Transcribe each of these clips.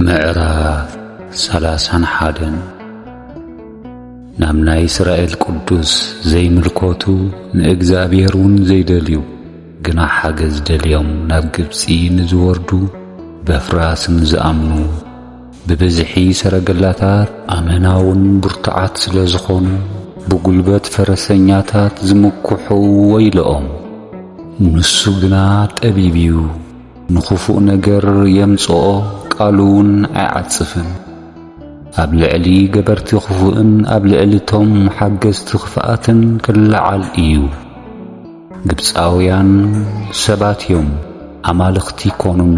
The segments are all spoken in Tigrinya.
ምዕራፍ ሰላሳን ሓደን ናብ ናይ እስራኤል ቅዱስ ዘይምልኮቱ ንእግዚኣብሔር እውን ዘይደልዩ ግና ሓገዝ ደልዮም ናብ ግብፂ ንዝወርዱ በፍራስ ንዝኣምኑ ብብዝሒ ሰረገላታት ኣመናውን ብርቱዓት ስለ ዝኾኑ ብጉልበት ፈረሰኛታት ዝምክሑ ወይለኦም ንሱ ግና ጠቢብ እዩ ንኽፉእ ነገር የምጽኦ ቃሉውን ኣይዓጽፍን። ኣብ ልዕሊ ገበርቲ ኽፉእን ኣብ ልዕሊ እቶም ሓገዝቲ ኽፍኣትን ኪለዓል እዩ። ግብጻውያን ሰባት እዮም፣ ኣማልኽቲ ኣይኰኑን፣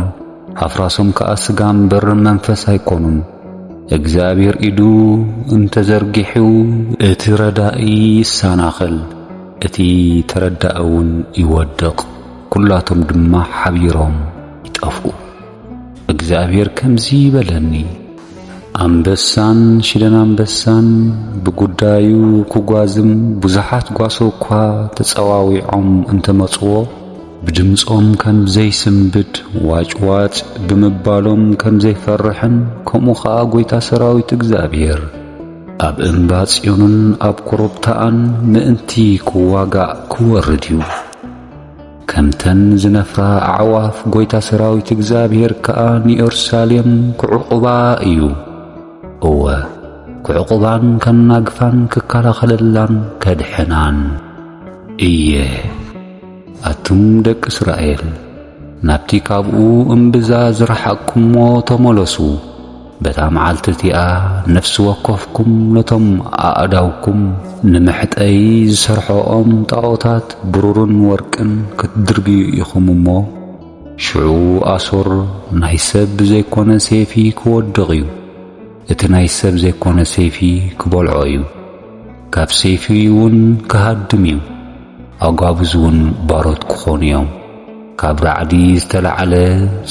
ኣፍራሶም ከኣ ስጋ እምበር መንፈስ ኣይኰኑን። እግዚኣብሄር ኢዱ እንተ ዘርጊሑ፣ እቲ ረዳኢ ይሰናኸል፣ እቲ ተረዳኢውን ይወድቕ። ኵላቶም ድማ ሓቢሮም ይጠፍኡ። እግዚኣብሄር ከምዚ በለኒ፣ ኣንበሳን ሽደን ኣንበሳን ብጕዳዩ ክጓዝም ብዙሓት ጓሶ እኳ ተጸዋዊዖም እንተ መጹዎ፣ ብድምጾም ከም ዘይስንብድ፣ ዋጭዋጭ ብምባሎም ከም ዘይፈርሕን፣ ከምኡ ኸኣ ጐይታ ሰራዊት እግዚኣብሄር፣ ኣብ እምባ ጽዮንን ኣብ ኮረብታኣን ምእንቲ ክዋጋእ ክወርድ እዩ። ከምተን ዝነፍራ ኣዕዋፍ ጐይታ ሰራዊት እግዚኣብሄር ከኣ ንዮርሳሌም ክዕቝባ እዩ፣ እወ፣ ክዕቍባን ከናግፋን ክከላኸለላን ከድሕናን እየ። ኣቱም ደቂ እስራኤል፣ ናብቲ ካብኡ እምብዛ ዝረሓቕኩምዎ ተመለሱ። በታ መዓልቲ እቲኣ ነፍሲ ወከፍኩም ነቶም ኣእዳውኩም ንመሕጠዪ ዝሰርሖኦም ጣኦታት ብሩርን ወርቅን ክትድርብዩ ኢኹም እሞ፣ ሽዑ ኣሶር ናይ ሰብ ዘይኰነ ሰይፊ ክወድቕ እዩ፣ እቲ ናይ ሰብ ዘይኰነ ሰይፊ ክበልዖ እዩ፣ ካብ ሰይፊ እውን ክሃድም እዩ፣ ኣጓብዝ እውን ባሮት ክዀኑ እዮም። ካብ ራዕዲ ዝተላዕለ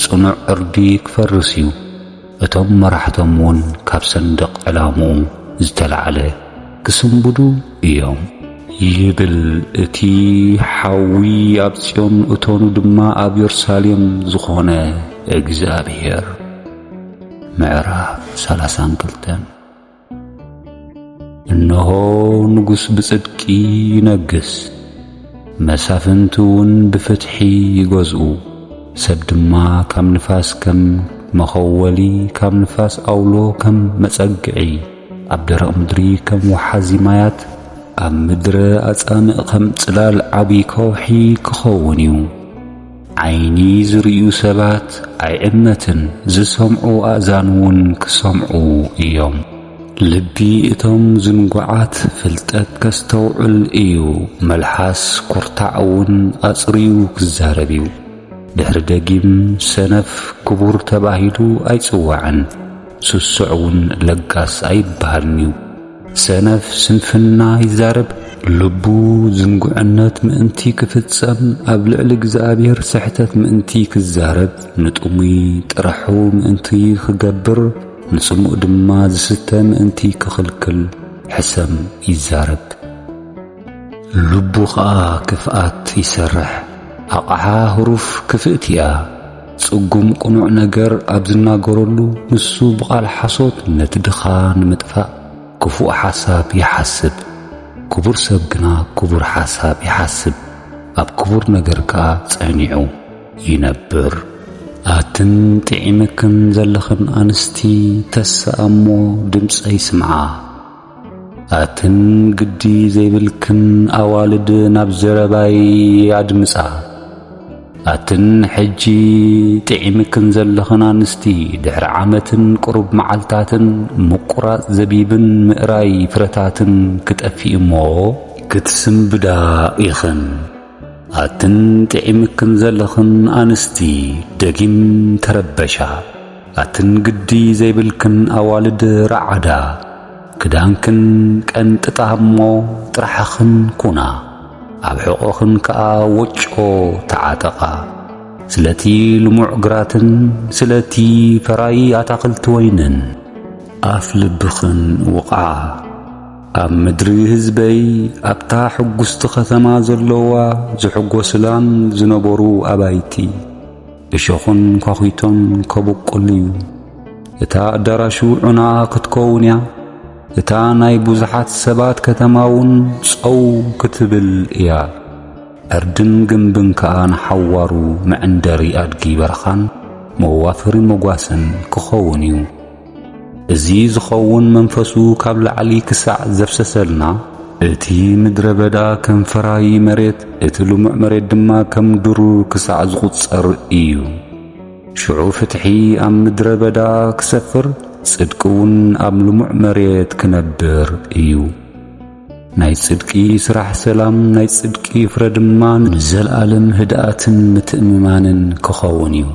ጽኑዕ ዕርዲ ክፈርስ እዩ። እቶም መራሕቶም እውን ካብ ሰንደቕ ዕላምኡ ዝተላዕለ ክስንብዱ እዮም። ይብል እቲ ሓዊ ኣብ ጽዮን እቶኑ ድማ ኣብ የሩሳሌም ዝኾነ እግዚኣብሔር። ምዕራፍ ሰላሳን ክልተን እነሆ ንጉሥ ብጽድቂ ይነግሥ፣ መሳፍንቲ እውን ብፍትሒ ይገዝኡ። ሰብ ድማ ካብ ንፋስ ከም መኸወሊ፣ ካብ ንፋስ ኣውሎ ከም መጸግዒ፣ ኣብ ደረቕ ምድሪ ከም ወሓዚ ማያት፣ ኣብ ምድረ ኣጻምእ ከም ጽላል ዓቢ ከውሒ ክኸውን እዩ። ዓይኒ ዝርእዩ ሰባት ኣይዕመትን፣ ዝሰምዑ ኣእዛንውን ክሰምዑ እዮም። ልቢ እቶም ዝንጉዓት ፍልጠት ከስተውዕል እዩ፣ መልሓስ ኩርታዕውን ኣጽርዩ ክዛረብ እዩ። ድሕሪ ደጊም ሰነፍ ክቡር ተባሂሉ ኣይጽዋዕን፣ ስሱዕውን ለጋስ ኣይብሃልን'ዩ። ሰነፍ ስንፍና ይዛረብ፣ ልቡ ዝንጉዕነት ምእንቲ ኪፍጸም፣ ኣብ ልዕሊ እግዚኣብሔር ስሕተት ምእንቲ ኪዛረብ፣ ንጥሙይ ጥራሑ ምእንቲ ኺገብር፣ ንጽሙእ ድማ ዚስተ ምእንቲ ኪኽልክል ሕሰም ይዛረብ። ልቡ ኸኣ ክፍኣት ይሰርሕ፣ ኣቕሓ ህሩፍ ክፍእቲ እያ። ጽጉም ቅኑዕ ነገር ኣብ ዝናገረሉ ንሱ ብቓል ሓሶት ነቲ ድኻ ንምጥፋእ ክፉእ ሓሳብ ይሓስብ። ክቡር ሰብ ግና ክቡር ሓሳብ ይሓስብ፣ ኣብ ክቡር ነገር ከኣ ጸኒዑ ይነብር። ኣትን ጥዒመክን ዘለኽን ኣንስቲ ተስኣ እሞ ድምጸይ ስምዓ። ኣትን ግዲ ዘይብልክን ኣዋልድ ናብ ዘረባይ ኣድምጻ። ኣትን ሕጂ ጥዒምክን ዘለኽን ኣንስቲ ድሕሪ ዓመትን ቅሩብ መዓልታትን ምቁራጽ ዘቢብን ምእራይ ፍረታትን ክጠፍእ እሞ ክትስንብዳ ኢኽን። ኣትን ጥዒምክን ዘለኽን ኣንስቲ ደጊም ተረበሻ። ኣትን ግዲ ዘይብልክን ኣዋልድ ራዓዳ ክዳንክን ቀንጥጣ እሞ ጥራሕኽን ኩና ኣብ ሕቖኽን ከኣ ወጮ ተዓጠቓ ስለቲ ልሙዕ ግራትን ስለቲ ፈራዪ ኣታኽልቲ ወይንን ኣፍ ልብኽን ውቕዓ ኣብ ምድሪ ህዝበይ ኣብታ ሕጉስቲ ከተማ ዘሎዋ ዝሕጎስላን ዝነበሩ ኣባይቲ። እሾኹን ኳዅቶን ከብቁል እዩ። እታ ኣዳራሹ ዑና ክትከውን እያ፣ እታ ናይ ብዙሓት ሰባት ከተማውን ጸው ክትብል እያ። ዕርድን ግምብን ከኣ ንሓዋሩ መዕንደሪ ኣድጊ በረኻን መዋፈሪ መጓሰን ክኸውን እዩ። እዚ ዝኸውን መንፈሱ ካብ ላዕሊ ክሳዕ ዘፍሰሰልና፣ እቲ ምድረ በዳ ከም ፈራዪ መሬት፣ እቲ ልሙዕ መሬት ድማ ከም ድሩር ክሳዕ ዝቝጸር እዩ። ሽዑ ፍትሒ ኣብ ምድረ በዳ ክሰፍር፣ ጽድቂውን ኣብ ልሙዕ መሬት ክነብር እዩ። ናይ ጽድቂ ስራሕ ሰላም፣ ናይ ጽድቂ ፍረ ድማ ንዘለኣለም ህድኣትን ምትእምማንን ክኸውን እዩ።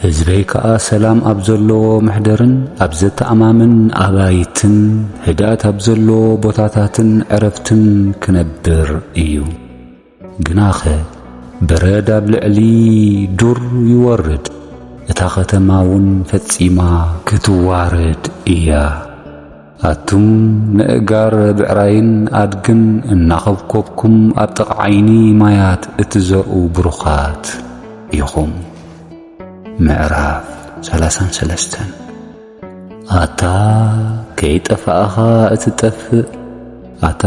ህዝበይ ከኣ ሰላም ኣብ ዘለዎ መሕደርን ኣብ ዘተኣማምን ኣባይትን ህድኣት ኣብ ዘለዎ ቦታታትን ዕረፍትን ክነብር እዩ። ግናኸ በረድ ኣብ ልዕሊ ዱር ይወርድ፣ እታ ኸተማውን ፈጺማ ክትዋረድ እያ። ኣቱም ነእጋር ብዕራይን ኣድግን እናኾብኮብኩም ኣብ ጥቓ ዓይኒ ማያት እትዘርኡ ብሩኻት ኢኹም። ምዕራፍ ሰላሳን ሰለስተን ኣታ ከይጠፋእኻ እትጠፍእ ኣታ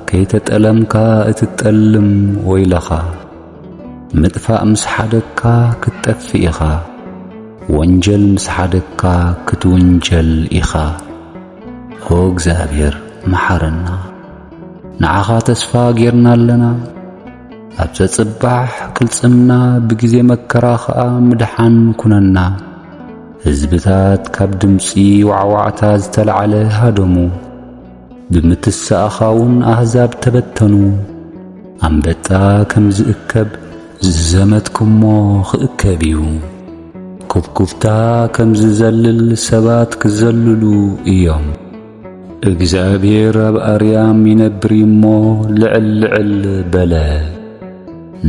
ከይተጠለምካ እትጠልም ወይለኻ። ምጥፋእ ምስ ሓደግካ ክትጠፍእ ኢኻ ወንጀል ምስ ሓደግካ ክትውንጀል ኢኻ ኦ እግዚኣብሔር መሓረና ንዓኻ ተስፋ ጌርና ኣለና ኣብ ዘጽባሕ ቅልጽምና ብግዜ መከራ ኸኣ ምድሓን ኩነና ህዝብታት ካብ ድምጺ ዋዕዋዕታ ዝተላዕለ ሃደሙ ብምትሳእኻውን ኣህዛብ ተበተኑ። ኣንበጣ ከም ዝእከብ ዝዘመትኩሞ ክእከብ እዩ። ኩብኩብታ ከም ዝዘልል ሰባት ክዘልሉ እዮም። እግዚኣብሄር ኣብ ኣርያም ይነብር እዩ እሞ ልዕል ልዕል በለ።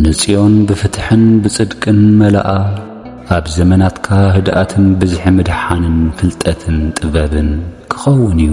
ንጽዮን ብፍትሕን ብጽድቅን መላኣ፣ ኣብ ዘመናትካ ህድኣትን ብዝሒ ምድሓንን ፍልጠትን ጥበብን ክኸውን እዩ።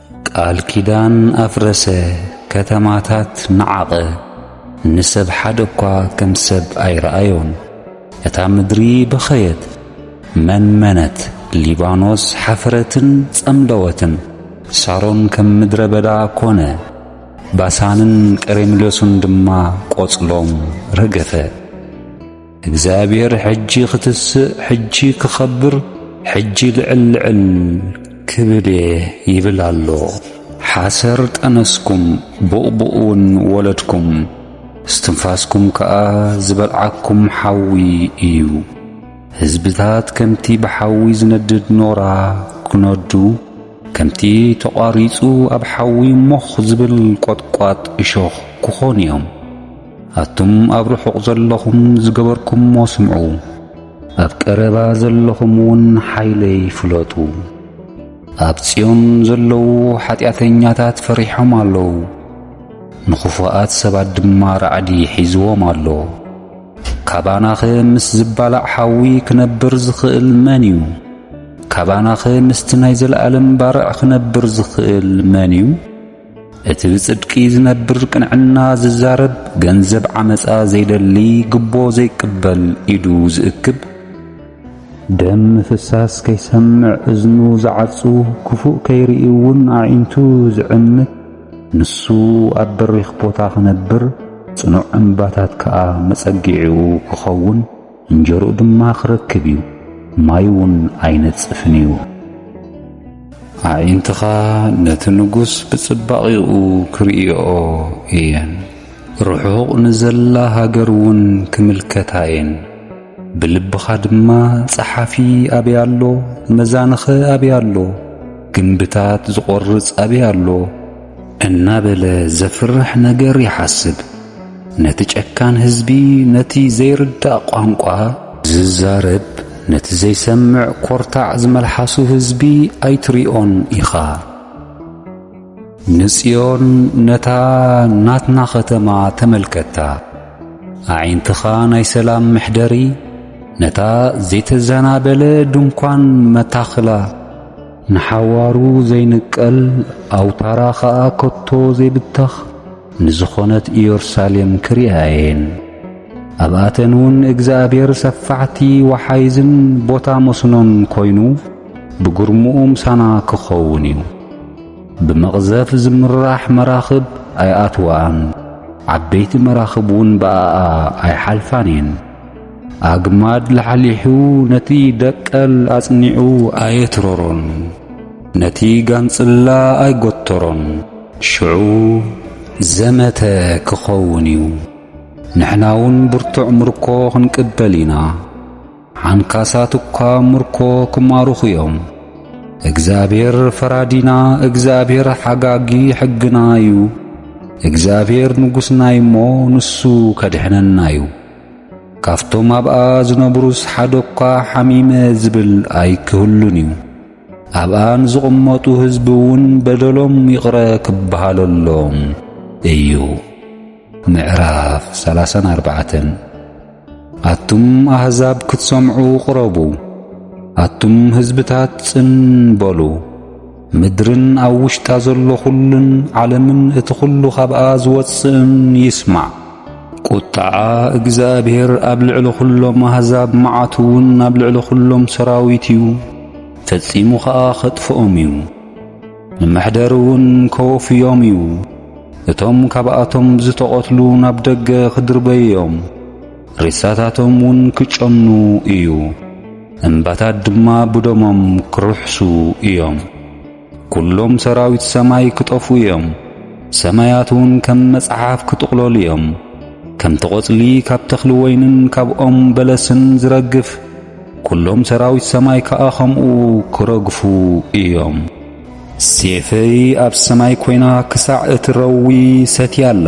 ቃል ኪዳን ኣፍረሰ ከተማታት ነዓቐ ንሰብ ሓደ እኳ ከም ሰብ ኣይረኣዮን እታ ምድሪ በኸየት መንመነት ሊባኖስ ሓፈረትን ጸምለወትን ሳሮን ከም ምድረ በዳ ኮነ ባሳንን ቀሬምሎስን ድማ ቆጽሎም ረገፈ። እግዚኣብሔር ሕጂ ክትስእ ሕጂ ክኸብር ሕጂ ልዕል ልዕል ክብል እየ ይብል ኣሎ። ሓሰር ጠነስኩም ቡቕቡቕውን ወለድኩም፣ እስትንፋስኩም ከኣ ዝበልዓኩም ሓዊ እዩ። ህዝብታት ከምቲ ብሓዊ ዝነድድ ኖራ ክነዱ፣ ከምቲ ተቛሪጹ ኣብ ሓዊ ሞኽ ዝብል ቈጥቋጥ እሾኽ ክኾኑ እዮም። ኣቱም ኣብ ርሑቕ ዘለኹም ዝገበርኩምዎ ስምዑ፣ ኣብ ቀረባ ዘለኹምውን ሓይለይ ፍለጡ። ኣብ ጽዮን ዘለዉ ሓጢኣተኛታት ፈሪሖም ኣለዉ፣ ንኽፉኣት ሰባት ድማ ራዕዲ ሒዝዎም ኣሎ። ካባናኸ ምስ ዝባላዕ ሓዊ ክነብር ዝኽእል መን እዩ? ካባናኸ ምስቲ ናይ ዘለኣለም ባርዕ ክነብር ዝኽእል መን እዩ? እቲ ብጽድቂ ዝነብር ቅንዕና ዝዛረብ ገንዘብ ዓመጻ ዘይደሊ ግቦ ዘይቅበል ኢዱ ዝእክብ ደም ምፍሳስ ከይሰምዕ እዝኑ ዝዓጹ ክፉእ ከይርኢ እውን ኣዒንቱ ዝዕምት ንሱ ኣብ በሪኽ ቦታ ክነብር ጽኑዕ እምባታት ከኣ መጸጊዒኡ ክኸውን እንጀርኡ ድማ ክረክብ እዩ ማይ ውን ኣይነጽፍን እዩ። ኣዒንትኻ ነቲ ንጉስ ብጽባቒኡ ክርእይኦ እየን፣ ርሑቕ ንዘላ ሃገር ውን ክምልከታ እየን። ብልብኻ ድማ ጸሓፊ ኣበይ ኣሎ፣ መዛንኸ ኣበይ ኣሎ፣ ግምብታት ዝቖርጽ ኣበይ ኣሎ፣ እናበለ ዘፍርሕ ነገር ይሓስብ። ነቲ ጨካን ህዝቢ ነቲ ዘይርዳእ ቋንቋ ዝዛረብ ነቲ ዘይሰምዕ ኮርታዕ ዝመልሓሱ ህዝቢ ኣይትሪኦን ኢኻ። ንጽዮን ነታ ናትና ኸተማ ተመልከታ። ኣዒንትኻ ናይ ሰላም መሕደሪ ነታ ዘይተዘናበለ ድንኳን መታኽላ። ንሓዋሩ ዘይንቀል፣ ኣውታራ ኸኣ ከቶ ዘይብተኽ ንዝኾነት ኢዮርሳሌም ክርእያ እየን። ኣብኣተንውን እግዚኣብሔር ሰፋሕቲ ወሓይዝን ቦታ መስኖን ኮይኑ ብግርምኡ ምሳና ክኸውን እዩ። ብመቕዘፍ ዝምራሕ መራኽብ ኣይኣትውኣን፣ ዓበይቲ መራኽብውን ብኣኣ ኣይሓልፋን እየን። ኣግማድ ላሕሊሑ ነቲ ደቀል ኣጽኒዑ ኣየትረሮን፣ ነቲ ጋንጽላ ኣይጎተሮን። ሽዑ ዘመተ ክኸውን እዩ፣ ንሕናውን ብርቱዕ ምርኮ ክንቅበል ኢና። ሓንካሳት እኳ ምርኮ ክማርኹ እዮም። እግዚኣብሔር ፈራዲና፣ እግዚኣብሔር ሓጋጊ ሕግና እዩ። እግዚኣብሔር ንጉሥና እዩሞ ንሱ ከድሕነና እዩ። ካብቶም ኣብኣ ዝነብሩስ ሓደ እኳ ሓሚመ ዝብል ኣይክህሉን እዩ። ኣብኣ ንዝቕመጡ ህዝቢ እውን በደሎም ይቕረ ክበሃለሎም እዩ። ምዕራፍ ሰላሳን ኣርባዕተን ኣቱም ኣሕዛብ ክትሰምዑ ቕረቡ፣ ኣቱም ህዝብታት ጽን በሉ። ምድርን ኣብ ውሽጣ ዘሎ ዅሉን ዓለምን እቲ ዅሉ ኻብኣ ዝወጽእን ይስማዕ። ቍጥዓ እግዚኣብሄር ኣብ ልዕሊ ዅሎም ኣህዛብ መዓቱ እውን ኣብ ልዕሊ ዅሎም ሰራዊት እዩ፣ ፈጺሙ ኸኣ ኼጥፍኦም እዩ። ንመሕደሪ እውን ኬወፍዮም እዩ፣ እቶም ካብኣቶም ዝተቐትሉ ናብ ደገ ኺድርበዩ እዮም። ሬሳታቶም ውን ክጨኑ እዩ፣ እምባታት ድማ ብደሞም ክርሕሱ እዮም። ኵሎም ሰራዊት ሰማይ ክጠፍኡ እዮም፣ ሰማያት ውን ከም መጽሓፍ ክጥቕለሉ እዮም። ከምቲ ቈጽሊ ካብ ተኽሊ ወይንን ካብ ኦም በለስን ዝረግፍ፣ ኵሎም ሰራዊት ሰማይ ከኣ ከምኡ ክረግፉ እዮም። ሴፈይ ኣብ ሰማይ ኰይና ክሳዕ እትረዊ ሰትያ ኣላ።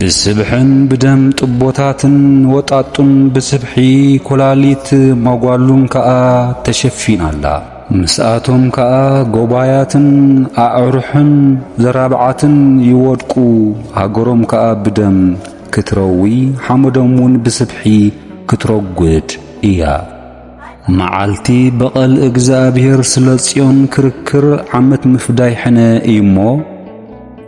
ብስብሕን ብደም ጥቦታትን ወጣጡን ብስብሒ ኮላሊት ሞጓሉን ከኣ ተሸፊና ኣላ። ምስኣቶም ከኣ ጎባያትን ኣዕሩሕን ዘራብዓትን ይወድቁ፣ ሃገሮም ከኣ ብደም ክትረዊ ሓመዶም እውን ብስብሒ ክትረጉድ እያ። መዓልቲ በቐል እግዚኣብሔር ስለ ጽዮን ክርክር ዓመት ምፍዳይ ሕነ እዩሞ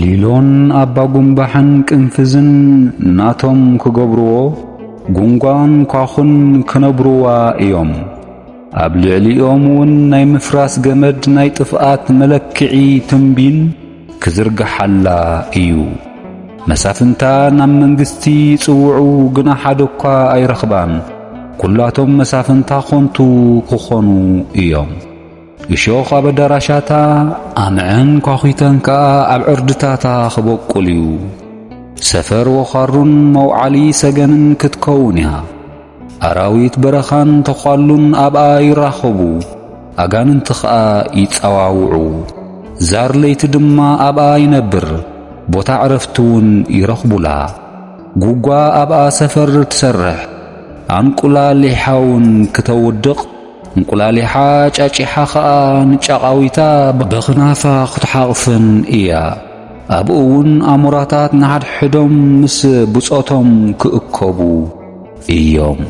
ሊሎን ኣባጉምባሕን ቅንፍዝን ናቶም ክገብርዎ ጉንጓን ኳኹን ክነብርዋ እዮም። ኣብ ልዕሊኦም እውን ናይ ምፍራስ ገመድ ናይ ጥፍኣት መለክዒ ትንቢን ክዝርግሓላ እዩ። መሳፍንታ ናብ መንግስቲ ይጽውዑ ግና ሓደ እኳ ኣይረኽባን። ኵላቶም መሳፍንታ ዀንቱ ክዀኑ እዮም። እሾኽ ኣብ ኣዳራሻታ፣ ኣምዕን ኳዅተን ከኣ ኣብ ዕርድታታ ኽበቁል እዩ። ሰፈር ወኻሩን መውዓሊ ሰገንን ክትከውን እያ። ኣራዊት በረኻን ተዃሉን ኣብኣ ይራኸቡ፣ ኣጋንንቲ ኸኣ ይጸዋውዑ። ዛር ለይቲ ድማ ኣብኣ ይነብር፣ ቦታ ዕረፍቲውን ይረኽቡላ። ጕጓ ኣብኣ ሰፈር ትሰርሕ፣ ኣንቍላሊሓውን ክተውድቕ፣ እንቁላሊሓ ጫጪሓ ኸኣ ንጫቓዊታ በኽናፋ ኽትሓቕፍን እያ። ኣብኡውን ኣሞራታት ንሓድሕዶም ምስ ብጾቶም ክእከቡ እዮም።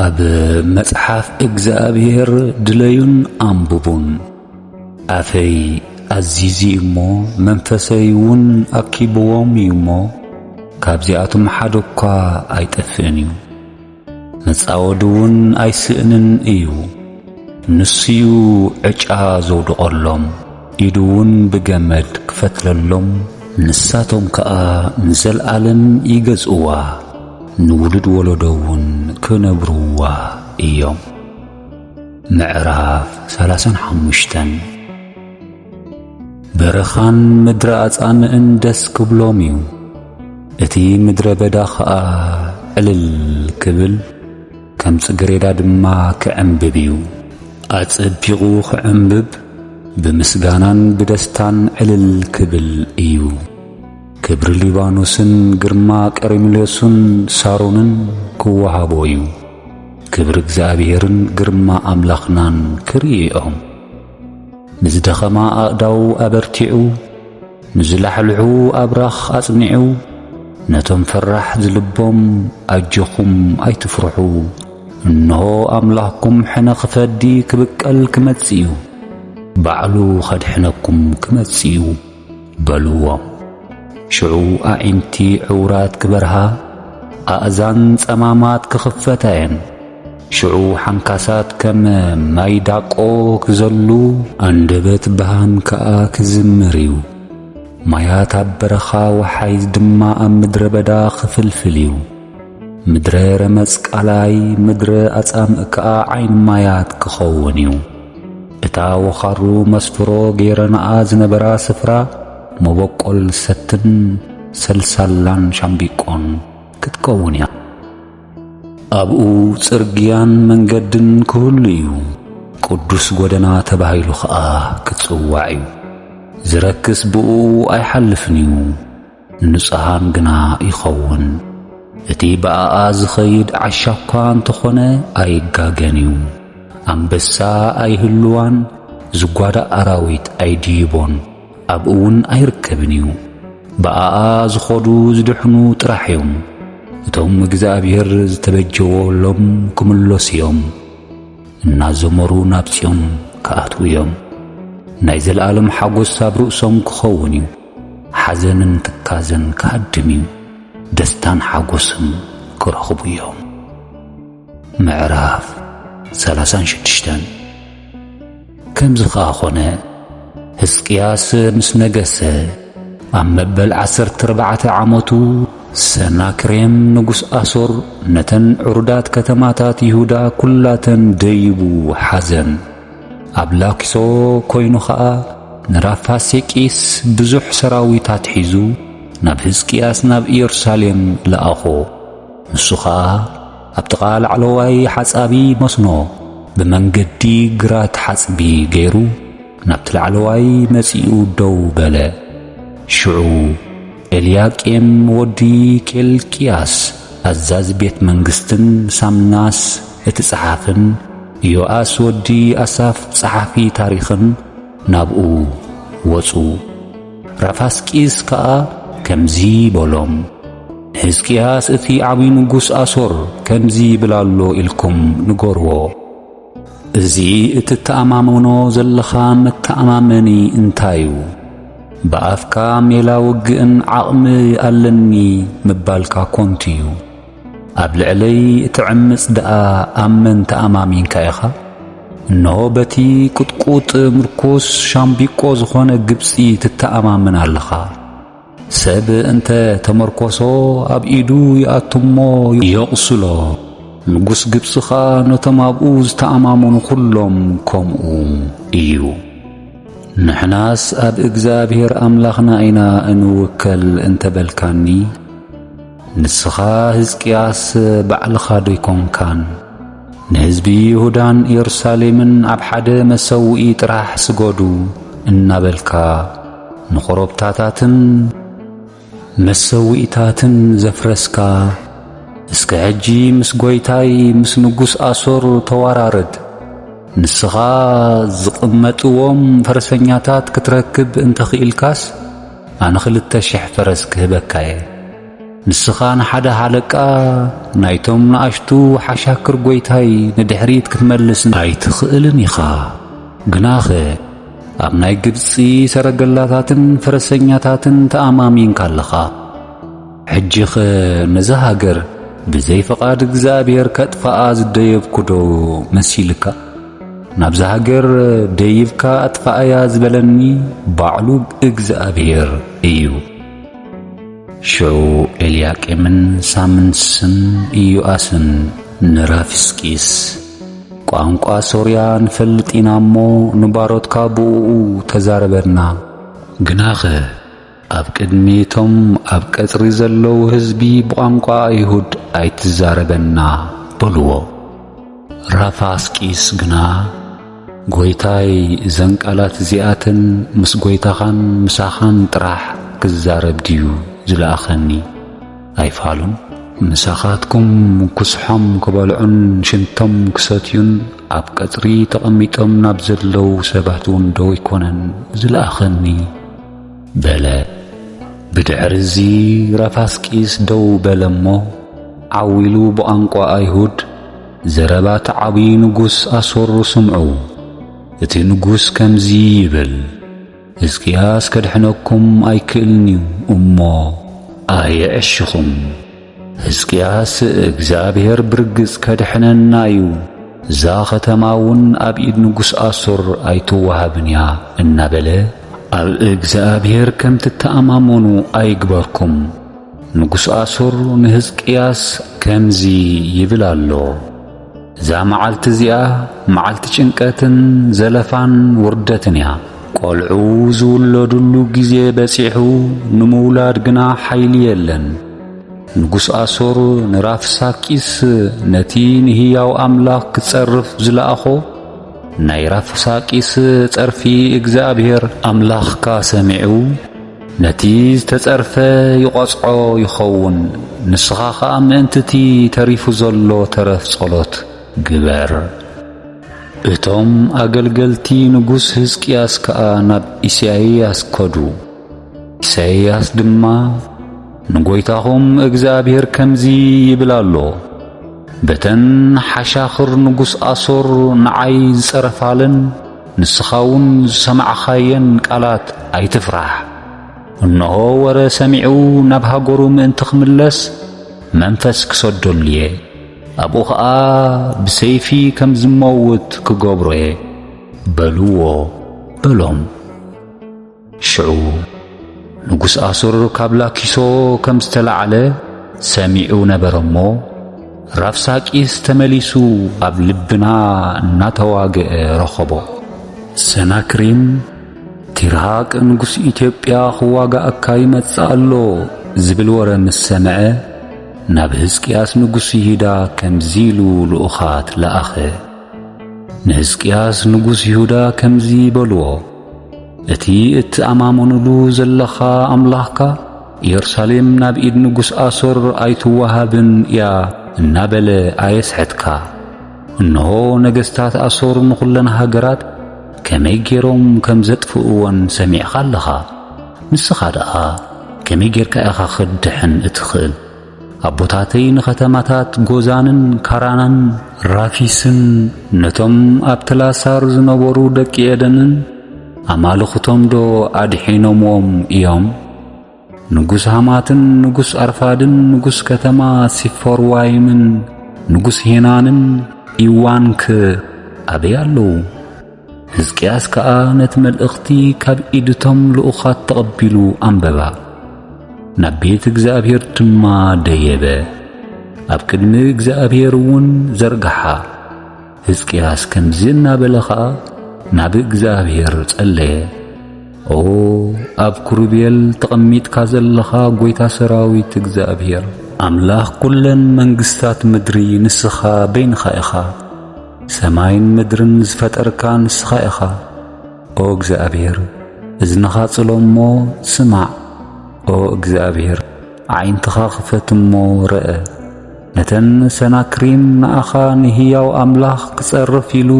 ኣብ መጽሓፍ እግዚኣብሔር ድለዩን ኣንብቡን። ኣፈይ ኣዚዙ እዩ እሞ መንፈሰይ እውን ኣኪብዎም እዩ እሞ፣ ካብዚኣቶም ሓደ እኳ ኣይጠፍእን እዩ። መጻወዲ እውን ኣይስእንን እዩ ንሱዩ ዕጫ ዘውድቐሎም ኢዱ እውን ብገመድ ክፈትለሎም ንሳቶም ከኣ ንዘልኣለም ይገዝእዋ ንውሉድ ወለዶ እውን ክነብርዋ እዮም ምዕራፍ ሰላሳን ሓሙሽተን በረኻን ምድረ ኣጻምእን ደስ ክብሎም እዩ እቲ ምድረ በዳ ኸኣ ዕልል ክብል ከም ጽግሬዳ ድማ ክዕምብብ እዩ ኣጸቢቑ ክዕምብብ ብምስጋናን ብደስታን ዕልል ክብል እዩ ክብሪ ሊባኖስን ግርማ ቀርሜሎስን ሳሮንን ክወሃቦ እዩ ክብሪ እግዚኣብሔርን ግርማ ኣምላኽናን ክርእኦም ንዝደኸማ ኣእዳው ኣበርቲዑ ንዝላሕልሑ ኣብራኽ ኣጽኒዑ ነቶም ፈራሕ ዝልቦም ኣጆኹም ኣይትፍርሑ እንሆ ኣምላኽኩም ሕነ ኽፈዲ ክብቀል ክመጽእ እዩ ባዕሉ ኸድሕነኩም ክመጽእ እዩ። በልዎም። ሽዑ ኣዒንቲ ዕውራት ክበርሃ፣ ኣእዛን ጸማማት ክኽፈታ እየን። ሽዑ ሓንካሳት ከም ማይ ዳቆ ክዘሉ፣ ኣንደበት በሃም ከኣ ክዝምር እዩ። ማያት ኣብ በረኻ፣ ወሓይዝ ድማ ኣብ ምድረ በዳ ክፍልፍል እዩ። ምድረ ረመጽ ቃላይ ምድረ ኣጻምእ ከኣ ዓይኒ ማያት ክኸውን እዩ። እታ ወኻሩ መስፍሮ ገይረናኣ ዝነበራ ስፍራ መበቆል ሰትን ሰልሳላን ሻምቢቆን ክትከውን እያ። ኣብኡ ጽርግያን መንገድን ክህሉ እዩ፣ ቅዱስ ጐደና ተባሂሉ ኸኣ ክጽዋዕ እዩ። ዝረክስ ብእኡ ኣይሓልፍን እዩ። ንጹሃን ግና ይኸውን። እቲ ብኣኣ ዝኸይድ ዓሻ እኳ እንተኾነ ኣይጋገን እዩ። ኣንበሳ ኣይህልዋን፣ ዝጓዳእ ኣራዊት ኣይድይቦን፣ ኣብኡ እውን ኣይርከብን እዩ። ብኣኣ ዝኸዱ ዝድሕኑ ጥራሕ እዮም። እቶም እግዚኣብሔር ዝተበጀወሎም ክምለሱ እዮም፣ እናዘመሩ ናብ ጽዮን ክኣትዉ እዮም። ናይ ዘለዓለም ሓጐስ ኣብ ርእሶም ክኸውን እዩ። ሓዘንን ትካዘን ክሃድም እዩ፣ ደስታን ሓጎስን ክረኽቡ እዮም። ምዕራፍ ሰላሳን ሽዱሽተን ከምዚ ኸኣ ኾነ ህዝቅያስ ምስ ነገሰ ኣብ መበል ዓሰርተ ኣርባዕተ ዓመቱ ሰናክሬም ንጉስ ኣሶር ነተን ዕሩዳት ከተማታት ይሁዳ ኵላተን ደይቡ ሓዘን። ኣብ ላኪሶ ኮይኑ ኸኣ ንራፋሴቂስ ብዙሕ ሰራዊት ኣትሒዙ ናብ ህዝቅያስ ናብ ኢየሩሳሌም ለኣኾ። ንሱ ኸኣ ኣብ ጥቓ ላዕለዋይ ሓጻቢ መስኖ ብመንገዲ ግራት ሓጽቢ ገይሩ ናብቲ ላዕለዋይ መጺኡ ደው በለ። ሽዑ ኤልያቄም ወዲ ኬልቅያስ ኣዛዚ ቤት መንግስትን ሳምናስ እቲ ጸሓፍን ዮኣስ ወዲ ኣሳፍ ጸሓፊ ታሪኽን ናብኡ ወጹ። ራፋስቂስ ከኣ ከምዚ በሎም፣ ንሕዝቅያስ እቲ ዓብዪ ንጉስ ኣሶር ከምዚ ይብል ኣሎ ኢልኩም ንገርዎ። እዚ እትተኣማመኖ ዘለኻ መተኣማመኒ እንታይ እዩ? ብኣፍካ ሜላ ውግእን ዓቕሚ ኣለኒ ምባልካ ኮንቱ እዩ። ኣብ ልዕለይ እትዕምጽ ደኣ ኣብ መን ተኣማሚንካ ኢኻ? እነሆ በቲ ቁጥቁጥ ምርኩስ ሻምቢቆ ዝኾነ ግብጺ ትተኣማመን ኣለኻ። ሰብ እንተ ተመርኰሶ ኣብ ኢዱ ይኣቱ እሞ የቝስሎ። ንጉስ ግብጺ ኸኣ ነቶም ኣብኡ ዝተኣማመኑ ዅሎም ከምኡ እዩ። ንሕናስ ኣብ እግዚኣብሄር ኣምላኽና ኢና እንውከል እንተ በልካኒ፣ ንስኻ ህዝቅያስ ባዕልኻዶ ኣይኮንካን ንህዝቢ ይሁዳን የሩሳሌምን ኣብ ሓደ መሰውኢ ጥራሕ ስገዱ እናበልካ ንኮረብታታትን መሰውኢታትን ዘፍረስካ? እስከ ሕጂ ምስ ጐይታይ ምስ ንጉስ ኣሶር ተዋራረድ። ንስኻ ዝቕመጥዎም ፈረሰኛታት ክትረክብ እንተ ኽኢልካስ፣ ኣነ ክልተ ሽሕ ፈረስ ክህበካ'የ። ንስኻ ንሓደ ሃለቃ ናይቶም ንኣሽቱ ሓሻክር ጐይታይ ንድሕሪት ክትመልስ። ኣይትኽእልን ኢኻ። ግናኸ ኣብ ናይ ግብጺ ሰረገላታትን ፈረሰኛታትን ተኣማሚንካ ኣለኻ። ሕጂኸ ነዛ ሃገር ብዘይ ፍቓድ እግዚኣብሔር ከጥፍኣ ዝደየብኩዶ መሲልካ? ናብዛ ሃገር ደይብካ ኣጥፍኣያ ዝበለኒ ባዕሉ እግዚኣብሔር እዩ። ሽዑ ኤልያቄምን ሳምንስን ኢዮኣስን ንራፍስቂስ ቋንቋ ሶርያ ንፈልጥ ኢና እሞ ንባሮትካ ብእኡ ተዛረበና ግናኸ ኣብ ቅድሚ እቶም ኣብ ቀጽሪ ዘለዉ ህዝቢ ብቛንቋ ኣይሁድ ኣይትዛረበና በልዎ። ራፋስቂስ ግና ጐይታይ እዘን ቃላት እዚኣተን ምስ ጐይታኻን ምሳኻን ጥራሕ ክዛረብ ድዩ ዝለኣኸኒ? ኣይፋሉን። ምሳኻትኩም ኩስሖም ክበልዑን ሽንቶም ክሰትዩን ኣብ ቀጽሪ ተቐሚጦም ናብ ዘለዉ ሰባትውንዶ ኣይኮነን ዝለኣኸኒ? በለ። ብድሕርዚ ረፋስቂስ ደው በለ እሞ፣ ዓው ኢሉ ብቛንቋ ኣይሁድ፣ ዘረባ እቲ ዓብዪ ንጉስ ኣሶር ስምዑ። እቲ ንጉስ ከምዚ ይብል፣ ህዝቅያስ ከድሕነኩም ኣይክእልን'ዩ እሞ ኣየዕሽኹም። ሕዝቅያስ እግዚኣብሔር ብርግጽ ከድሕነና እዩ፣ እዛ ኸተማ እውን ኣብ ኢድ ንጉሥ ኣሶር ኣይትወሃብን እያ እናበለ ኣብ እግዚኣብሔር ከም ትተኣማመኑ ኣይግበርኩም። ንጉሥ ኣሶር ንሕዝቅያስ ከምዚ ይብል ኣሎ። እዛ መዓልቲ እዚኣ መዓልቲ ጭንቀትን ዘለፋን ውርደትን እያ። ቆልዑ ዝውለዱሉ ግዜ በጺሑ ንምውላድ ግና ሓይሊ የለን። ንጉስ ኣሶር ንራፍሳኪስ ነቲ ንህያው ኣምላኽ ክጸርፍ ዝለኣኾ ናይ ራፍሳቂስ ጸርፊ እግዚኣብሔር ኣምላኽካ ሰሚዑ ነቲ ዝተጸርፈ ይቖጽዖ ይኸውን፣ ንስኻ ኸኣ ምእንቲ እቲ ተሪፉ ዘሎ ተረፍ ጸሎት ግበር። እቶም ኣገልገልቲ ንጉስ ህዝቅያስ ከኣ ናብ ኢሳይያስ ከዱ፣ ኢሳይያስ ድማ፣ ንጐይታኹም እግዚኣብሄር ከምዚ ይብል ኣሎ፣ በተን ሓሻኽር ንጉስ ኣሶር ንዓይ ዝጸረፋለን፣ ንስኻውን ዝሰማዕኻየን ቃላት ኣይትፍራሕ። እንሆ ወረ ሰሚዑ ናብ ሃገሩ ምእንቲ ኽምለስ መንፈስ ክሰደሉ እየ፣ ኣብኡ ኸኣ ብሰይፊ ከም ዝመውት ክገብሮ እየ በልዎ በሎም። ሽዑ ንጉስ ኣሱር ካብ ላኪሶ ከም ዝተላዕለ ሰሚዑ ነበረ እሞ ራፍሳቂስ ተመሊሱ ኣብ ልብና እናተዋግአ ረኸቦ። ሰናክሪም ቲርሃቅ ንጉስ ኢትዮጵያ ክዋጋእካ ይመጽእ ኣሎ ዝብል ወረ ምስ ሰምዐ ናብ ህዝቅያስ ንጉስ ይሁዳ ከምዚ ኢሉ ልኡኻት ለኣኸ። ንህዝቅያስ ንጉስ ይሁዳ ከምዚ በልዎ፣ እቲ እትኣማመኑሉ ዘለኻ ኣምላኽካ ኢየሩሳሌም ናብ ኢድ ንጉስ ኣሶር ኣይትወሃብን እያ እናበለ ኣየስሕትካ። እንሆ ነገሥታት ኣሶር ንዅለን ሃገራት ከመይ ገይሮም ከም ዘጥፍእወን ሰሚዕካ ኣለኻ። ንስኻ ደኣ ከመይ ጌርካ ኢኻ ኽትድሕን እትኽእል? ኣቦታተይ ንኸተማታት ጎዛንን ካራናን ራፊስን ነቶም ኣብ ትላሳር ዝነበሩ ደቂ ኤደንን ኣማልኽቶምዶ ኣድሒኖምዎም እዮም? ንጉስ ሃማትን ንጉስ ኣርፋድን ንጉስ ከተማ ሲፈርዋይምን ንጉስ ሄናንን ኢዋንክ ኣበይ ኣለዉ? ህዝቅያስ ከኣ ነቲ መልእኽቲ ካብ ኢድቶም ልኡኻት ተቐቢሉ ኣንበባ። ናብ ቤት እግዚኣብሔር ድማ ደየበ፣ ኣብ ቅድሚ እግዚኣብሔር እውን ዘርግሓ። ህዝቅያስ ከምዚ እናበለ ኸኣ ናብ እግዚኣብሔር ጸለየ። ኦ ኣብ ኩሩቤል ተቐሚጥካ ዘለኻ ጐይታ ሰራዊት እግዚኣብሔር፣ ኣምላኽ ኵለን መንግስታት ምድሪ ንስኻ በይንኻ ኢኻ። ሰማይን ምድርን ዝፈጠርካ ንስኻ ኢኻ። ኦ እግዚኣብሔር እዝንኻ ጽሎ እሞ ስማዕ፣ ኦ እግዚኣብሔር ኣዒንትኻ ኽፈት እሞ ርኣ። ነተን ሰናክሪም ንኣኻ ንህያው ኣምላኽ ክጸርፍ ኢሉ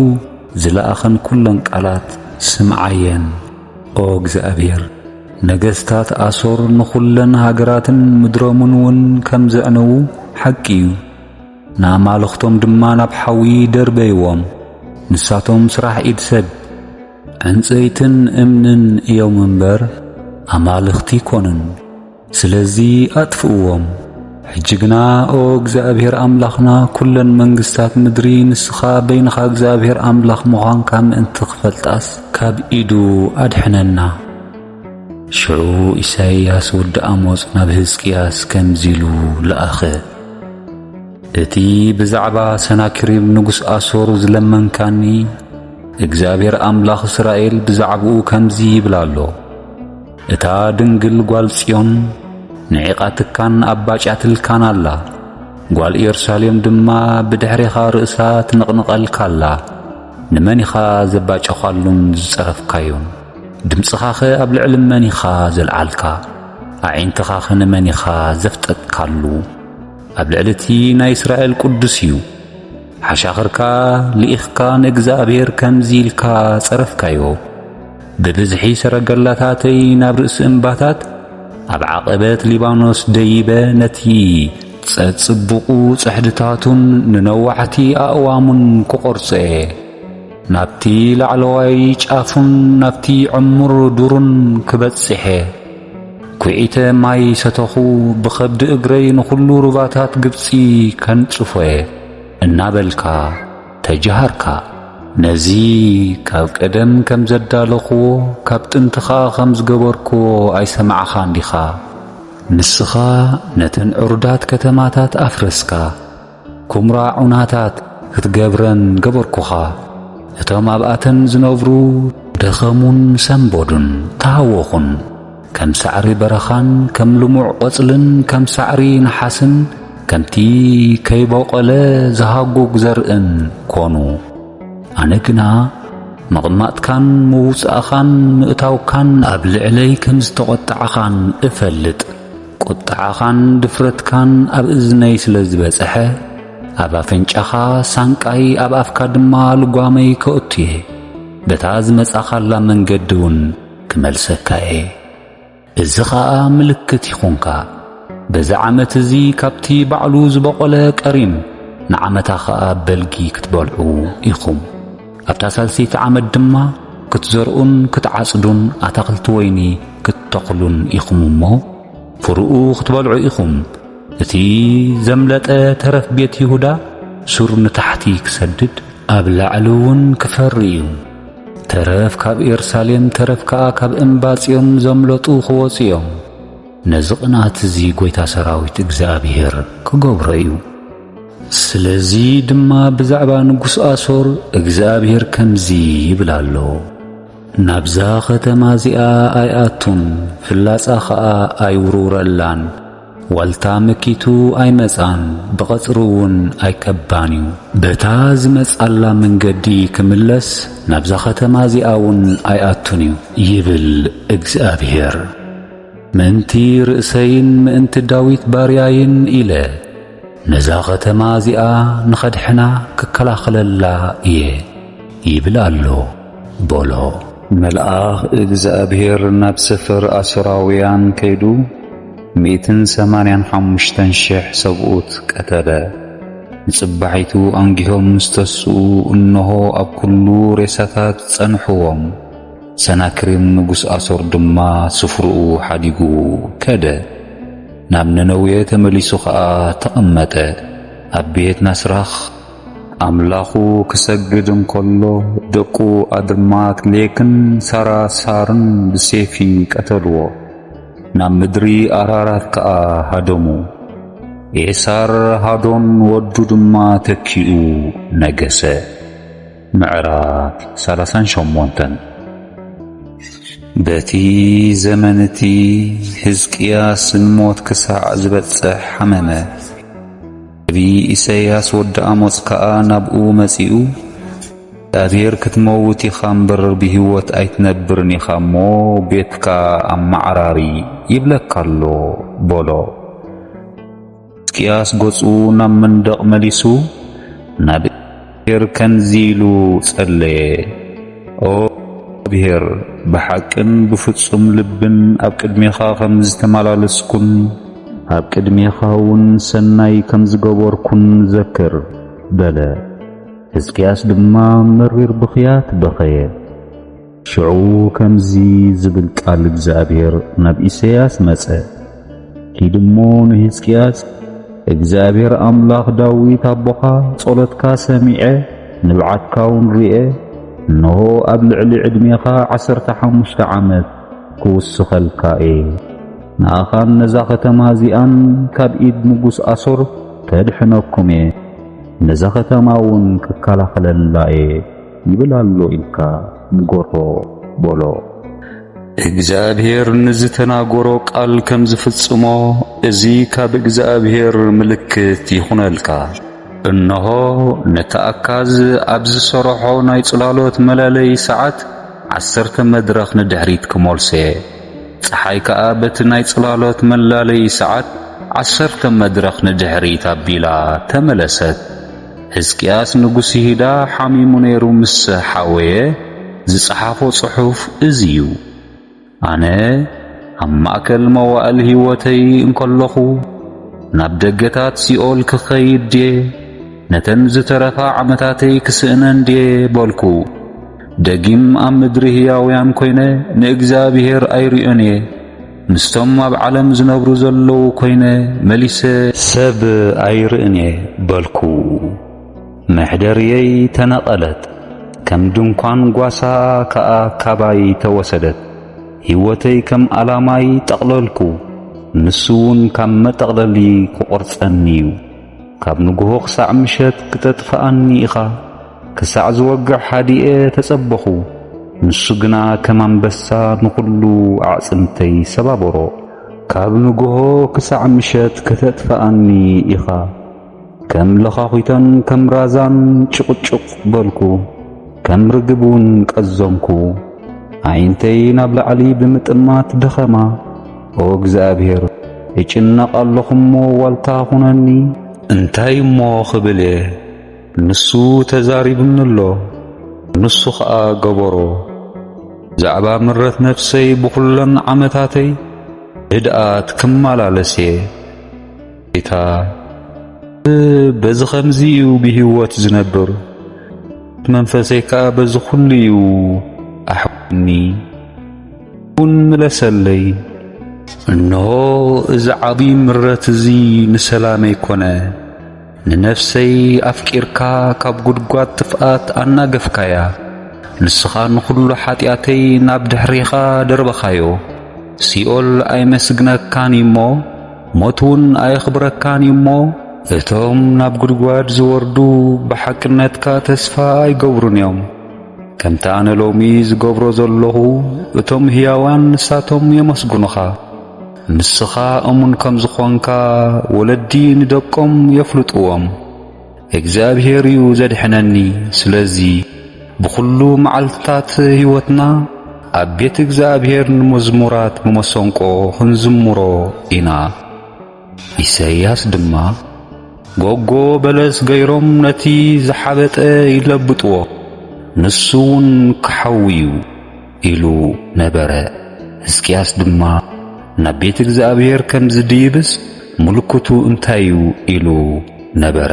ዝለኣኸን ኵለን ቃላት ስምዓየን። ኦ እግዚኣብሔር ነገስታት ኣሶር ንዅለን ሃገራትን ምድሮምን እውን ከም ዘዕነዉ ሓቂ እዩ። ንኣማልኽቶም ድማ ናብ ሓዊ ደርበይዎም፣ ንሳቶም ስራሕ ኢድ ሰብ፣ ዕንጸይትን እምንን እዮም እምበር፣ ኣማልኽቲ ኣይኰኑን። ስለዚ ኣጥፍእዎም። ሕጂ ግና ኦ እግዚኣብሄር ኣምላኽና፣ ኵለን መንግስታት ምድሪ ንስኻ በይንኻ እግዚኣብሄር ኣምላኽ ምዃንካ ምእንቲ ኺፈልጣስ፣ ካብ ኢዱ ኣድሕነና። ሽዑ ኢሳይያስ ወዲ ኣሞጽ ናብ ህዝቅያስ ከምዚ ኢሉ ለኣኸ፣ እቲ ብዛዕባ ሰናክሪም ንጉስ ኣሶር ዝለመንካኒ፣ እግዚኣብሔር ኣምላኽ እስራኤል ብዛዕባኡ ከምዚ ይብል ኣሎ፣ እታ ድንግል ጓል ጽዮን ንዒቓትካን ኣባጭያትልካን ኣላ ጓል ኢየሩሳሌም ድማ ብድሕሬኻ ርእሳ ትንቕንቐልካ ኣላ ንመን ኢኻ ዘባጨኻሉን ዝጸረፍካዮን ድምጽኻኸ ኣብ ልዕሊ መን ኢኻ ዘልዓልካ? ኣዒንትኻኸ ንመን ኢኻ ዘፍጠጥካሉ? ኣብ ልዕሊ እቲ ናይ እስራኤል ቅዱስ እዩ። ሓሻኽርካ ልኢኽካ ንእግዚኣብሄር ከምዚ ኢልካ ጸረፍካዮ፣ ብብዝሒ ሰረገላታተይ ናብ ርእሲ እምባታት፣ ኣብ ዓቐበት ሊባኖስ ደይበ ነቲ ጸጽቡቑ ጽሕድታቱን ንነዋሕቲ ኣእዋሙን ክቖርጾ እየ። ናብቲ ላዕለዋይ ጫፉን ናብቲ ዕሙር ዱሩን ክበጽሔ፣ ኲዒተ ማይ ሰተኹ፣ ብኸብዲ እግረይ ንዅሉ ሩባታት ግብጺ ከንጽፎ'የ፣ እናበልካ ተጀሃርካ። ነዚ ካብ ቀደም ከም ዘዳለኹዎ፣ ካብ ጥንቲ ኸኣ ኸም ዝገበርኩዎ ኣይሰማዕኻን ዲኻ? ንስኻ ነተን ዕሩዳት ከተማታት ኣፍረስካ። ኩምራ ዑናታት ክትገብረን ገበርኩኻ። እቶም ኣብኣተን ዝነብሩ ደኸሙን ሰንበዱን፣ ተሃወኹን። ከም ሳዕሪ በረኻን ከም ልሙዕ ቈጽልን ከም ሳዕሪ ነሓስን ከምቲ ከይቦቖለ ዝሃጕግ ዘርእን ኰኑ። ኣነ ግና ምቕማጥካን ምውጻእኻን ምእታውካን ኣብ ልዕለይ ከም ዝተቖጣዕኻን እፈልጥ። ቍጥዓኻን ድፍረትካን ኣብ እዝነይ ስለ ዝበጽሐ፣ ኣብ ኣፍንጫኻ ሳንቃይ ኣብ ኣፍካ ድማ ልጓመይ ከእቱ እየ፣ በታ ዝመጻኻላ መንገዲ እውን ክመልሰካ እየ። እዚ ኸኣ ምልክት ይኹንካ፣ በዚ ዓመት እዚ ካብቲ ባዕሉ ዝበቖለ ቀሪም ንዓመታ ኸኣ በልጊ ክትበልዑ ኢኹም። ኣብታ ሳልሰይቲ ዓመት ድማ ክትዘርኡን ክትዓጽዱን ኣታኽልቲ ወይኒ ክትተኽሉን ኢኹም እሞ ፍርኡ ክትበልዑ ኢኹም። እቲ ዘምለጠ ተረፍ ቤት ይሁዳ ሱር ንታሕቲ ክሰድድ ኣብ ላዕሊ እውን ክፈሪ እዩ። ተረፍ ካብ ኤርሳሌም ተረፍ ከኣ ካብ እምባ ጽዮን ዘምለጡ ክወጹ እዮም። ነዚ ቕንኣት እዚ ጐይታ ሰራዊት እግዚኣብሄር ክገብሮ እዩ። ስለዚ ድማ ብዛዕባ ንጉስ ኣሶር እግዚኣብሄር ከምዚ ይብል ኣሎ። ናብዛ ኸተማ እዚኣ ኣይኣቱን፣ ፍላጻ ኸኣ ኣይውርውረላን፣ ዋልታ መኪቱ ኣይመጽኣን፣ ብቐጽሪውን ኣይከባን እዩ። በታ ዝመጽኣላ መንገዲ ኪምለስ፣ ናብዛ ኸተማ እዚኣውን ኣይኣቱን እዩ። ይብል እግዚኣብሄር። ምእንቲ ርእሰይን ምእንቲ ዳዊት ባርያይን ኢለ፣ ነዛ ኸተማ እዚኣ ንኸድሕና፣ ክከላኸለላ እየ፣ ይብል ኣሎ። በሎ። መልኣኽ እግዚኣብሔር ናብ ሰፈር ኣሶራውያን ከይዱ ሚእትን ሰማንያን ሓሙሽተን ሽሕ ሰብኡት ቀተለ። ንጽባሒቱ ኣንጊሆም ምስ ተስኡ እንሆ ኣብ ኩሉ ሬሳታት ጸንሕዎም። ሰናክሬም ንጉሥ ኣሶር ድማ ስፍርኡ ሓዲጉ ከደ። ናብ ነነዌ ተመሊሱ ኸኣ ተቐመጠ፣ ኣብ ቤት ናስራኽ ኣምላኹ ክሰግድ እንከሎ ደቁ ኣድማት ሌክን ሳራሳርን ብሴፊ ቀተልዎ፣ ናብ ምድሪ ኣራራት ከኣ ሃደሙ። ኤሳር ሃዶን ወዱ ድማ ተኪኡ ነገሰ። ምዕራፍ ሰላሳን ሸሞንተን በቲ ዘመን እቲ ህዝቅያስ ንሞት ክሳዕ ዝበጽሕ ሓመመ። ነቢይ ኢሰያስ ወዲ ኣሞጽ ከኣ ናብኡ መጺኡ፣ እግዚኣብሄር ክትመውት ኢኻ እምበር ብህይወት ኣይትነብርን ኢኻ እሞ፣ ቤትካ ኣመዓራሪ ይብለካ ኣሎ፣ በሎ። ሕዝቅያስ ገጹ ናብ መንደቕ መሊሱ ናብ እግዚኣብሔር ከምዚ ኢሉ ጸለየ፣ ኦ እግዚኣብሔር፣ ብሓቅን ብፍጹም ልብን ኣብ ቅድሜኻ ከም ዝተመላለስኩን፣ ኣብ ቅድሜኻውን ሠናይ ከም ዝገበርኩን ዘክር፣ በለ። ሕዝቅያስ ድማ መሪር ብኽያት በኸየ። ሽዑ ከምዚ ዝብል ቃል እግዚኣብሔር ናብ ኢሰያስ መጸ፣ ኪድ እሞ ንሕዝቅያስ እግዚኣብሔር ኣምላኽ ዳዊት ኣቦኻ ጸሎትካ ሰሚዐ ንብዓትካውን ርኤ፣ እንሆ ኣብ ልዕሊ ዕድሜኻ ዓሰርተ ሓሙሽተ ዓመት ክውስኸልካ እየ። ንኣኻን ነዛ ኸተማ እዚኣን ካብ ኢድ ንጉስ ኣሶር ከድሕነኩም እየ፣ ነዛ ኸተማ እውን ክከላኸለላ እየ። ይብል ኣሎ ኢልካ ንገሮ በሎ። እግዚኣብሔር ንዝተናገሮ ቃል ከም ዝፍጽሞ እዚ ኻብ እግዚኣብሔር ምልክት ይኹነልካ። እንሆ፣ ነቲ ኣካዝ ኣብ ዝሰረሖ ናይ ጽላሎት መላለይ ሰዓት ዓሰርተ መድረኽ ንድሕሪት ክመልሶ እየ፣ ጸሓይ ከኣ በቲ ናይ ጽላሎት መላለይ ሰዓት ዓሰርተ መድረኽ ንድሕሪት ኣቢላ ተመለሰት። ህዝቅያስ ንጉስ ይሁዳ ሓሚሙ ነይሩ ምስ ሓወየ ዝጸሓፎ ጽሑፍ እዚ እዩ። ኣነ ኣብ ማእከል መዋእል ህይወተይ እንከለኹ ናብ ደገታት ሲኦል ክኸይድ ድየ ነተን ዝተረፋ ዓመታተይ ክስእነን ድየ በልኩ። ደጊም ኣብ ምድሪ ህያውያን ኮይነ ንእግዚኣብሔር ኣይርእዮን እየ። ምስቶም ኣብ ዓለም ዝነብሩ ዘለዉ ኮይነ መሊሰ ሰብ ኣይርእን እየ በልኩ። መሕደርየይ ተነቐለት፣ ከም ድንኳን ጓሳ ከኣ ካባይ ተወሰደት። ህይወተይ ከም ኣላማይ ጠቕለልኩ፣ ንሱውን ካብ መጠቕለሊ ክቖርጸኒ እዩ። ካብ ንግሆ ክሳዕ ምሸት ክተጥፍኣኒ ኢኻ? ክሳዕ ዝወግሕ ሃዲኤ ተጸበኹ፣ ንሱ ግና ከም ኣንበሳ ንዅሉ ኣዕጽምተይ ሰባበሮ። ካብ ንግሆ ክሳዕ ምሸት ከተጥፍኣኒ ኢኻ፣ ከም ለዃዂተን ከም ራዛን ጭቕጭቕ በልኩ፣ ከም ርግብ እውን ቀዘንኩ። ኣዒንተይ ናብ ላዕሊ ብምጥማት ደኸማ። ኦ እግዚኣብሄር፣ እጭነቕ ኣሎኹ እሞ ዋልታ ኹነኒ። እንታይ እሞ ኽብል እየ? ንሱ ተዛሪቡኒ'ሎ ንሱ ኸኣ ገበሮ። ብዛዕባ ምረት ነፍሰይ ብኹለን ዓመታተይ ህድኣት ክመላለስ'የ። ጌታ ሰብ በዚ ኸምዚ'ዩ ብህይወት ዝነብር፣ ምረት መንፈሰይ ከኣ በዚ ኹሉ'ዩ ኣሕዊዩኒ። እውን ምለሰለይ። እንሆ እዚ ዓብዪ ምረት'ዚ ንሰላመይ ኮነ። ንነፍሰይ ኣፍቂርካ ካብ ጕድጓድ ጥፍኣት ኣናገፍካያ፣ ንስኻ ንዅሉ ሓጢኣተይ ናብ ድሕሬኻ ደርበኻዮ። ሲኦል ኣይመስግነካን እዩ እሞ፣ ሞትውን ኣየኽብረካን እዩ እሞ፣ እቶም ናብ ጕድጓድ ዚወርዱ ብሓቅነትካ ተስፋ ኣይገብሩን እዮም፣ ከምቲ ኣነ ሎሚ ዝገብሮ ዘሎኹ፣ እቶም ህያዋን ንሳቶም የመስግኑኻ። ንስኻ እሙን ከም ዝኾንካ ወለዲ ንደቆም የፍልጥዎም። እግዚኣብሄር እዩ ዘድሕነኒ፣ ስለዚ ብኹሉ መዓልትታት ሕይወትና ኣብ ቤት እግዚኣብሄር ንመዝሙራት ብመሰንቆ ኽንዝምሮ ኢና። ኢሰያስ ድማ ጎጎ በለስ ገይሮም ነቲ ዝሓበጠ ይለብጥዎ፣ ንሱ ውን ክሓዊ እዩ። ኢሉ ነበረ። ህዝቅያስ ድማ ናብ ቤት እግዚኣብሔር ከም ዝድይብስ ምልክቱ እንታይ እዩ ኢሉ ነበረ።